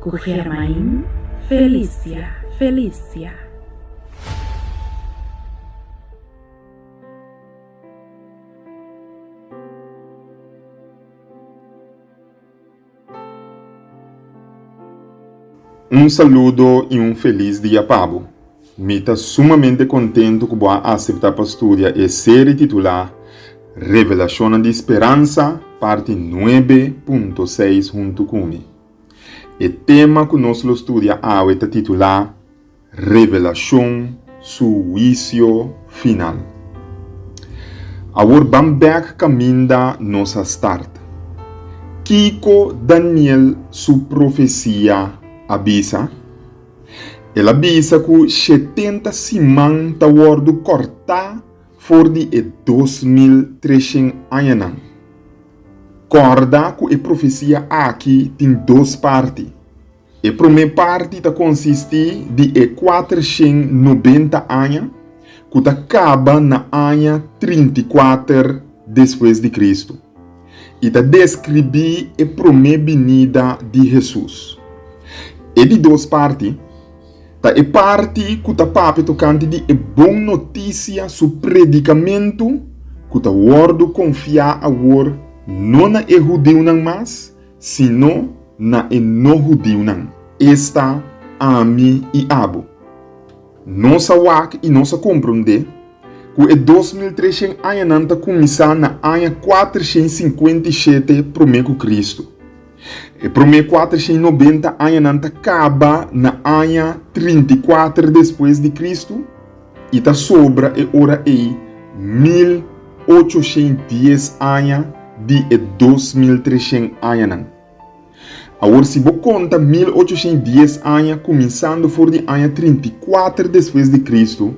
Ku Germain Felicia Felicia. Un saludo i un felis dia pa bo. Mi ta sumamente kontentu ku bo a aseptá pa studia e serie titulá Revelashonnan di Speransa, parti nuebe punto seis huntu ku mi. E tema ku nos lo studia awe ta titulá Revelashon, su huisio final. Awor ban bèk kaminda nos a start. Kiko Daniel su profesia a bisa? El a bisa ku shetenta siman ta wòrdu kòrtá for di e dos mil treshen añanan. Kòrda ku e profesia aki tin dos parti. E promé parti ta konsistí di e kuater shen nobenta aña ku ta kaba na aña trinta i kuater despues di Kristu. I ta deskribí e promé binida di Hesus. E di dos parti. Ta e parti ku ta papia tokante di e bon notisia su predikamentu ku ta wòrdu konfiá awor no na e hudiunan mas, sino na e no-hudiunan. Esta ami i abo. Nos a wak i nos a komprondé ku e dos mil treshen añanan ta kuminsá na aña kuater shen sinkuenta i shete promé ku Kristu. E promé kuatershei nobenta añanan ta kaba na aña trinta i kuater despues di Kristu i ta sobra e ora ei mil ochoshei dies aña di e dos mil treshen añanan. Awor si bo konta mil ochoshei dies aña kuminsando for di aña trinta i kuater despues di Kristu,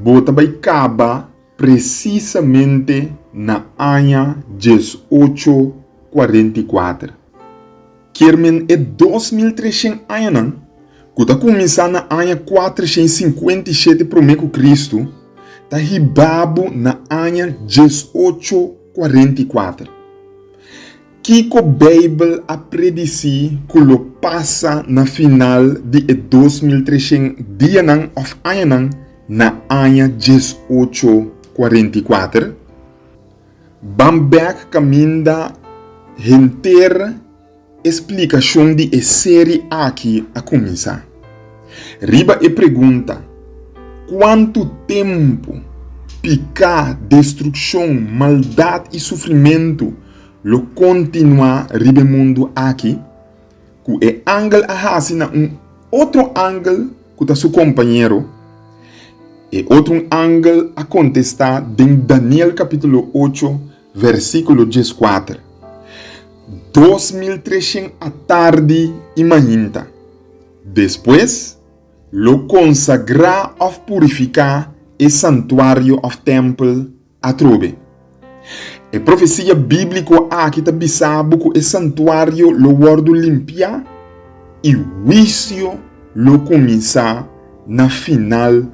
bo ta bai kaba presisamente na aña dies ocho cuarenta i cuater, kier men e dos mil treshen añanan, ku ta kuminsá na aña kuatershen i sinkuenta i shete promé ku Kristu, ta hibá bo na aña dies ocho cuarenta i cuater. Kiko Beibel a predisí ku lo pasa na final di e dos mil treshen dianan òf añanan na aña djes ocho kuarenta i kuater? Ban bèk kaminda henter e splikashon di e seri aki a kuminsá. Riba e pregunta, Kuantu tempu piká, destrukshon, maldat i sufrimentu Lo kontinuá riba e mundu aki ku e angel a hasi na un otro angel ku ta su kompañero. E otrun angel a kontestá den Daniel kapítulo ocho, vèrsikulo dieskuater, dos mil treshen atardi i mainta. Despues, lo konsagrá òf purifiká e santuario òf tèmpel Atrobe, e profesia bíbliko aki ta bisa bo ku e santuario lo wòrdu limpiá i huisio lo kuminsá na final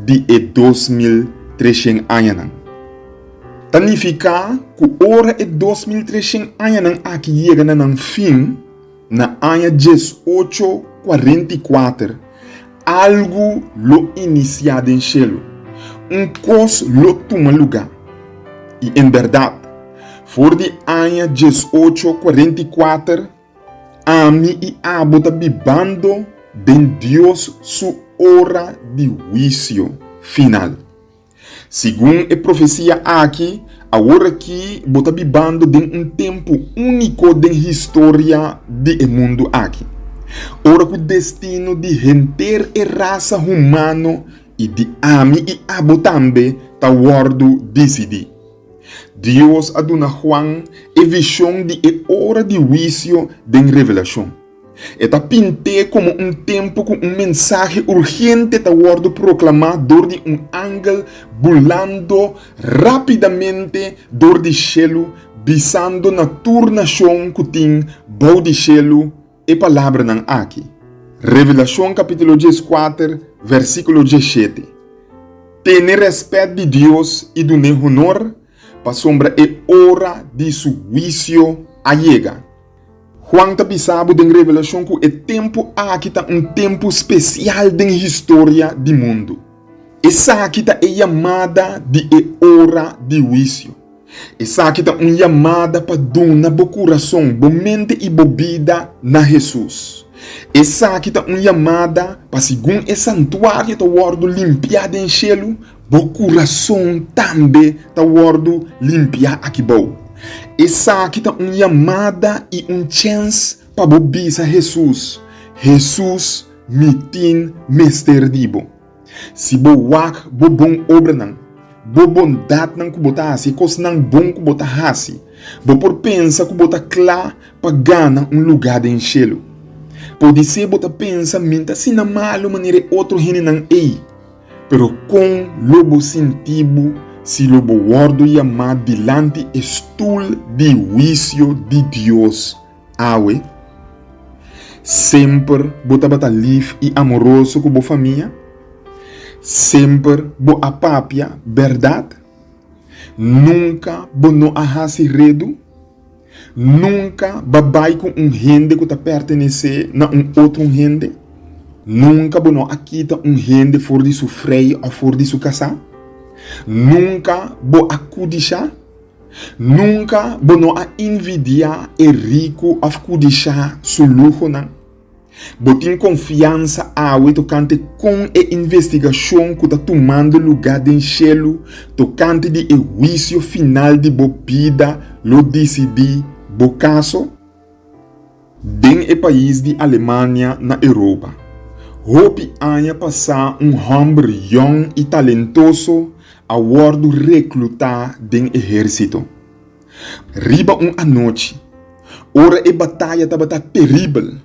di e dos mil treshent añanan. Ta nifiká ku ora e dos mil treshent añanan aki yega na nan fin, Na aña dies ocho kuarenta i kuater, algu lo inisiá den shelu. Un kos lo tuma lugá. I en bèrdat, for di aña dies ocho kuarenta i kuater, ami i abo ta bibando den Dios su ora di huisio final. Segun e profesia aki, aworakí bo ta bibando den un tempu úniko den historia di e mundu aki, ora ku destino di henter e rasa humano i di ami i abo tambe ta wòrdu disidí. Dios a duna Juan e vishon di e ora di huisio den Revelashon. E ta pint'é komo un tempu ku un mensahe urgente ta wòrdu proklamá dor di un angel bulando rápidamente dor di shelu, bisando na tur nashon ku tin bou di shelu e palabranan aki, Revelashon kapítulo dies kuater, vèrsikulo dies shete, Tene rèspèt di Dios i dun'é honor, Pasobra e ora di su huisio a yega. Juan ta bisa bo den revelashon ku e tempu aki ta un tempu spesial den historia di mundu. Esaki ta e yamada di e ora di huisio. Esaki ta un yamada pa duna bo kurason, bo mente i bo bida na Hesus. Esaki ta un yamada pa segun e santuario ta wòrdu limpiá den shelu Bo kurason tambe ta wòrdu limpiá akibou. Esaki ta un yamada i un chèns pa bo bisa Hesus, Hesus, mi tin mester di bo. Si bo wak bo bon obranan, bo bondatnan ku bo ta hasi, e kosnan bon ku bo ta hasi, bo por pensa ku bo ta kla pa gana un lugá den shelu. Podisé bo ta pensa, Min ta asina malu manera e otro hendenan ei. Pero kon lo bo sinti bo si lo bo wòrdu yamá dilanti e stul di huisio di Dios awe? Semper bo tabata lif i amoroso ku bo famia? Semper bo a papia bèrdat? Nunka bo no a hasi redu? Nunka ba bai ku un hende ku ta pertenesé na un otro hende. Nunka bo no a kita un hende for di su frei òf for di su kasá. Nunka bo a kudishá. Nunka bo no a invidiá e riku òf kudishá su luhonan. Bo tin konfiansa awe tokante kon e investigashon ku ta tumando lugá den shelu tokante di e huisio final di bo bida lo disidí bo kaso? Den e pais di Alemania na Europa, hopi aña pasá un hòmber yòn i talentoso a wòrdu reklutá den ehérsito. Riba un anochi, ora e bataya tabata teribel,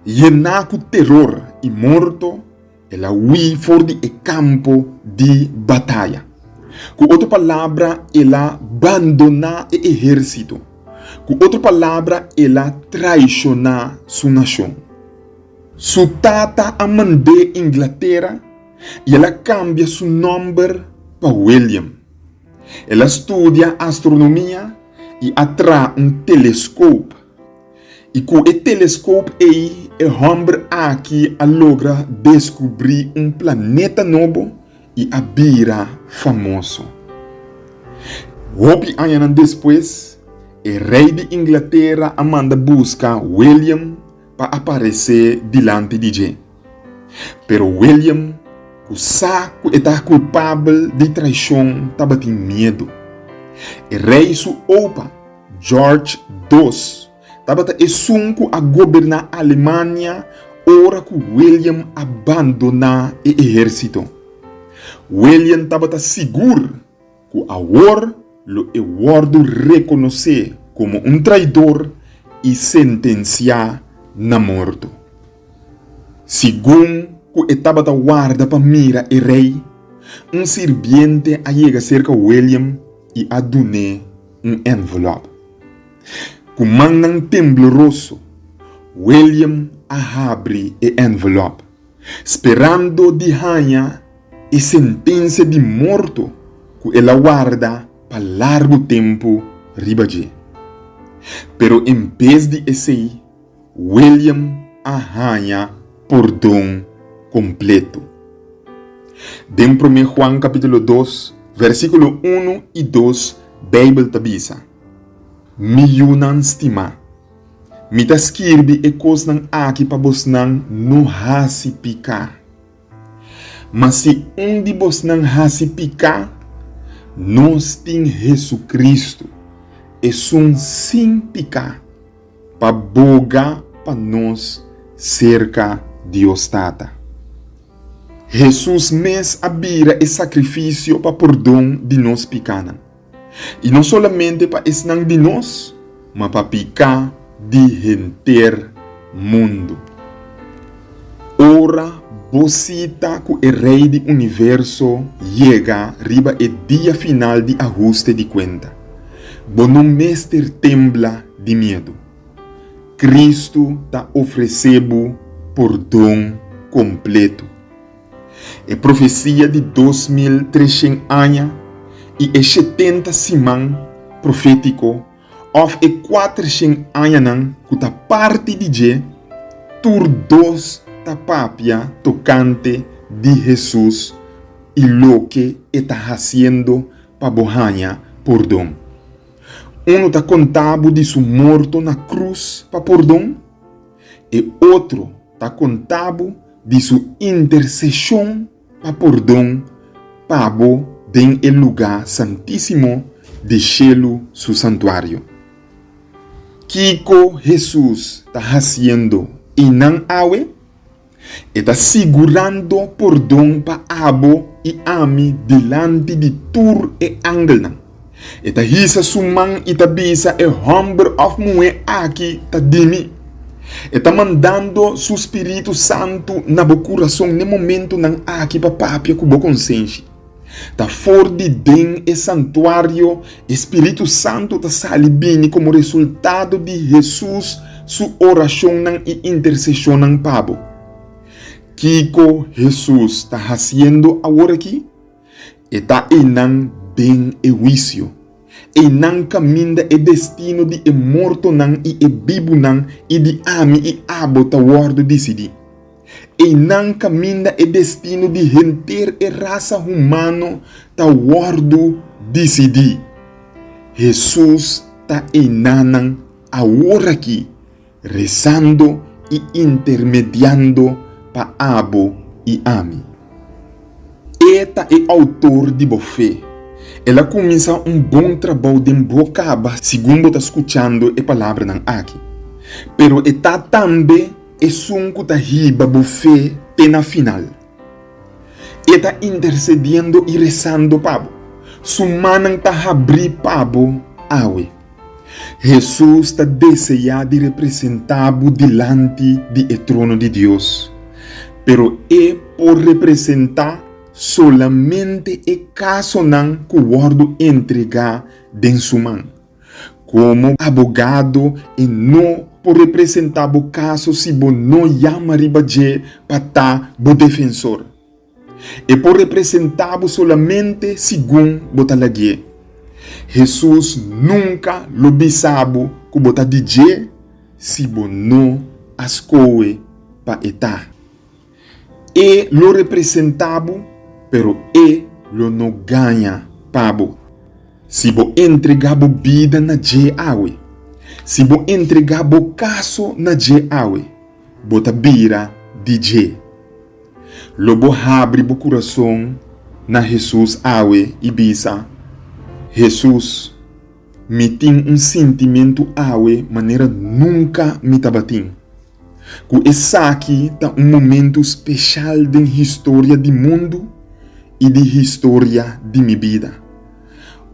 yená ku teror i morto, el a hui for di e kampo di bataya. Ku otro palabra, el a bandoná e ehérsito. Ku otro palabra, el a traishoná su nashon. Su tata a mand'é Inglatera i el a kambia su nòmber pa William. El a studia astronomia i a traha un teleskop. I ku e teleskop ei e hòmber aki a logra deskubrí un planeta nobo i a bira famoso. Hopi añanan despues, e rei di Inglatera a manda buska William pa aparesé dilanti di dje. Pero William, ku sa ku e ta kulpabel di traishon, tabatin miedu. E rei su opa, George dos, tabata esun ku a goberná Alemania ora ku William a bandoná e ehérsito. William tabata sigur. cu awor lo e wordo reconoce como un traidor y sentencia na morto. Segun cu e tabata warda pa mira e rey, un sirbiente a yega cerca William y a dun'e un envelope. Cu mannan tembloroso, William a habri e envelope. sperando di haña e sentensia di morto ku el a warda pa largu tempu riba dje. Pero en bes di esei, William a haña pordon kompletu. Den Promé Juan kapítulo dos, vèrsikulo unu i dos Beibel ta bisa, Mi yunan stimá, Mi ta skirbi e kosnan aki pa bosnan no hasi piká. Ma si un di bosnan hasi piká, nos tin Hesukristu, esun sin piká, pa boga pa nos serka Dios Tata. Hesus mes a bira e sakrifisio pa pordon di nos pikánan. I no solamente pa esnan di nos, ma pa bika di henter mundu. Ora bo sita ku e Rei di Universo yega riba e dia final di ahuste di kuenta, bo no mester tembla di miedu. Kristu ta ofresé bo pordon kompletu. E profesia di dos mil treshen aña i e shetenta siman profétiko òf e kuatershen añanan ku ta parti di dje, tur dos ta papia tokante di Hesus i loke e ta hasiendo pa bo haña pordon. Unu ta konta bo di su morto na krus pa pordon. E otro ta kontabu di su interseshon pa pordon pa bo den e luga santisimo di shelu, su santuario. Kiko Hesus ta hasiendo einan awe? E ta sigurando pordon pa abo i ami dilanti di tur e angelnan. E ta hisa su man i ta bisa, E hòmber òf muhé aki ta di mi. E ta mandando su Spiritu Santu na bo kurason n'e momentunan aki pa papia ku bo konsenshi. Ta for di den e santuario e Spiritu Santu ta sali bini komo resultado di Hesus su orashonnan i interseshonnan pa bo. Kiko Hesus ta hasiendo aworakí? E ta einan den e huisio. Einan kaminda e destino di e mortonan i e bibunan i di ami i abo ta wòrdu disidí. Einan kaminda e destino di henter e rasa humano ta wòrdu disidí. Hesus ta einannan aworakí, resando i intermediando pa abo i ami. E ta e Outor di bo fe. El a kuminsá un bon trabou den bo kaba segun bo ta skuchando e palabranan aki. Pero e ta tambe. Esun ku ta hiba bo fe te na final, e ta intersediendo i resando pa bo. Su mannan ta habrí pa bo awe. Hesus ta deseá di representá bo dilanti di e trono di Dios, pero e por representá solamente e kasonan ku wòrdu entregá den su man. Komo abogado e no por representá bo kaso si bo no yama riba dje pa ta bo defensor. E por representá bo solamente segun bo ta lagu'é. Hesus nunka lo bisa bo ku bo ta di dje si bo no a skohe pa e ta. E lo representa bo, pero e lo no gaña pa bo. Si bo entregá bo bida na dje awe, si bo entregá bo kaso na dje awe, bo ta bira di dje. Lo bo habri bo kurason na Hesus awe i bisa, Hesus, mi tin un sintimentu awe manera nunka mi tabatin. Ku esaki ta un momentu speshal den historia di mundu i di historia di mi bida.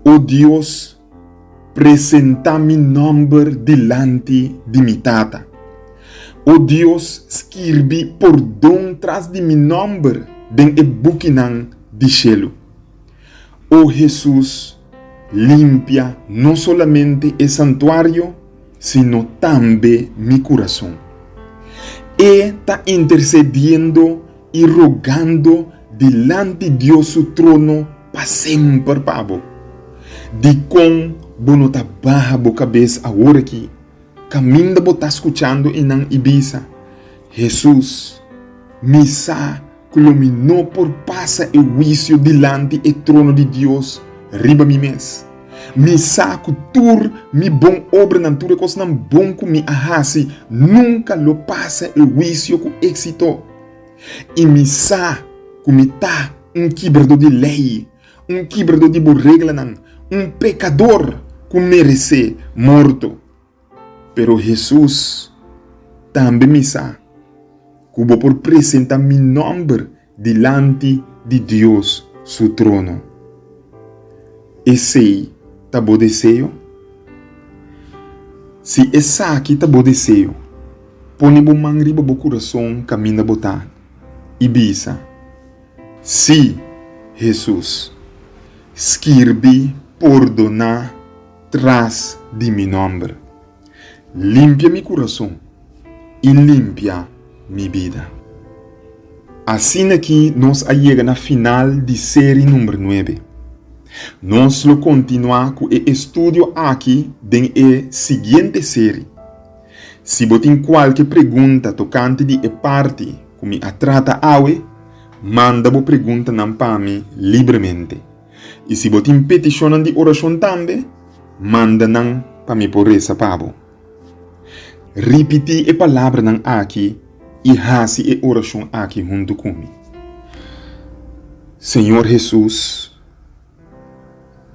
O Dios, presentá mi nòmber dilanti di mi Tata. O Dios, skirbi pordon tras di mi nòmber den e bukinan di shelu. O Hesus limpia no solamente e santuario, sino tambe mi curason. E ta intercediendo y rogando dilanti Dios su trono pa semper pa bo. Dicon bo no ta baha bo cabes aworaki, caminda bo ta scuchando e nan y bisa, Hesus, mi sa. ku lo mi no por pasa e huisio dilanti e trono di Dios riba mi mes. Mi sa ku tur mi bon obranan, tur e kosnan bon ku mi a hasi, nunka lo pasa e huisio ku éksito. I mi sa ku mi ta un kibradó di lei, un kibradó di bo reglanan, un pekador ku meresé morto. Pero Hesus tambe misa ku bo por presenta mi nòmber dilanti di Dios su trono. Esei ta bo deseo? Si esaki ta bo deseo, pone bo man riba bo kurason kaminda bo ta i bisa, Sí, Hesus, skirbi, pordoná. Tras di mi nòmber. Limpia mi kurason i limpia mi bida. Asina aki nos a yega na final di seri number nuebe. Nos lo kontinuá ku e estudio aki den e siguiente seri. Si bo tin kualke pregunta tokante di e parti ku mi a trata awe, manda bo preguntanan pa mi libremente. I si bo tin petishonnan di orashon tambe, manda nan pa mi por resa pa bo. Ripití e palabranan akí i hasi e orashon akí huntu ku mi, Señor Hesus,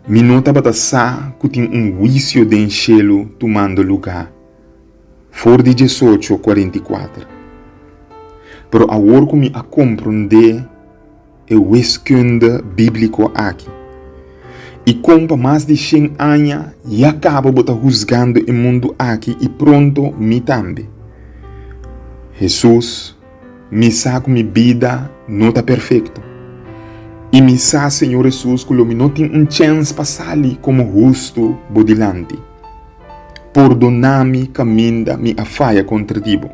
mi no tabata sa ku tin un huisio den shelu tumando lugá for di diesocho kuarenta i kuater, pero awor ku mi a komprondé, e weskunda bíbliko aki? I kon pa mas di shen aña ya kaba bo ta husgando e mundu aki i pronto mi tambe? Hesus, Mi sa ku mi bida no ta perfekto. I mi sa, Señor Hesus, ku lo mi no tin un chèns pa sali komo hustu bo dilanti. Pordoná mi kaminda mi a faya kontra di bo,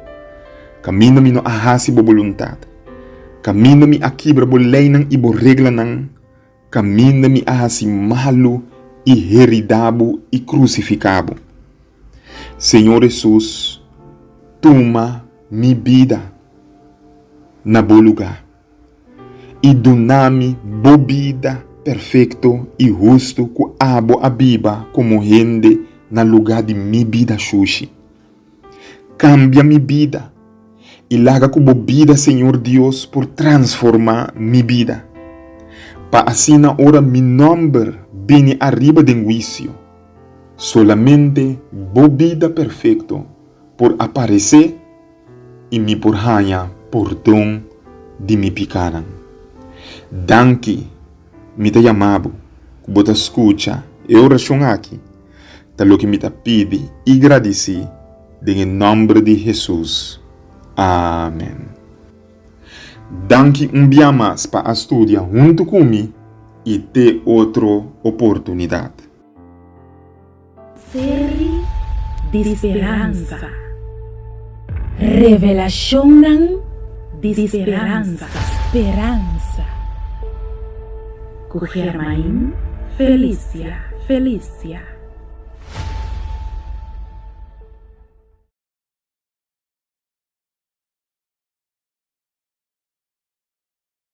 kaminda mi no a hasi bo boluntat. Kaminda mi a kibra bo leinan i bo reglanan, kaminda mi a hasi malu i heridá bo i krusifiká bo. Señor Hesus, tuma mi bida na bo lugá i duna mi bo bida perfekto i hustu ku abo a biba komo hende na lugá di mi bida shushi. Kambia mi bida, i laga ku bo bida Señor Dios por transformá mi bida, pa asina ora mi nòmber bini ariba den huisio, solamente bo bida perfekto por aparesé i mi por haña pordon di mi pikánan. Danki, mi ta yama bo ku bo ta skucha e orashon aki. Ta loke mi ta pidi i gradisí den e nòmber di Hesus. Amen. Danki un bia mas pa a studia huntu ku mi i te otro oportunidat. Seri di speransa. Revelashonnan di speransa. Cu Germain Felicia Felicia.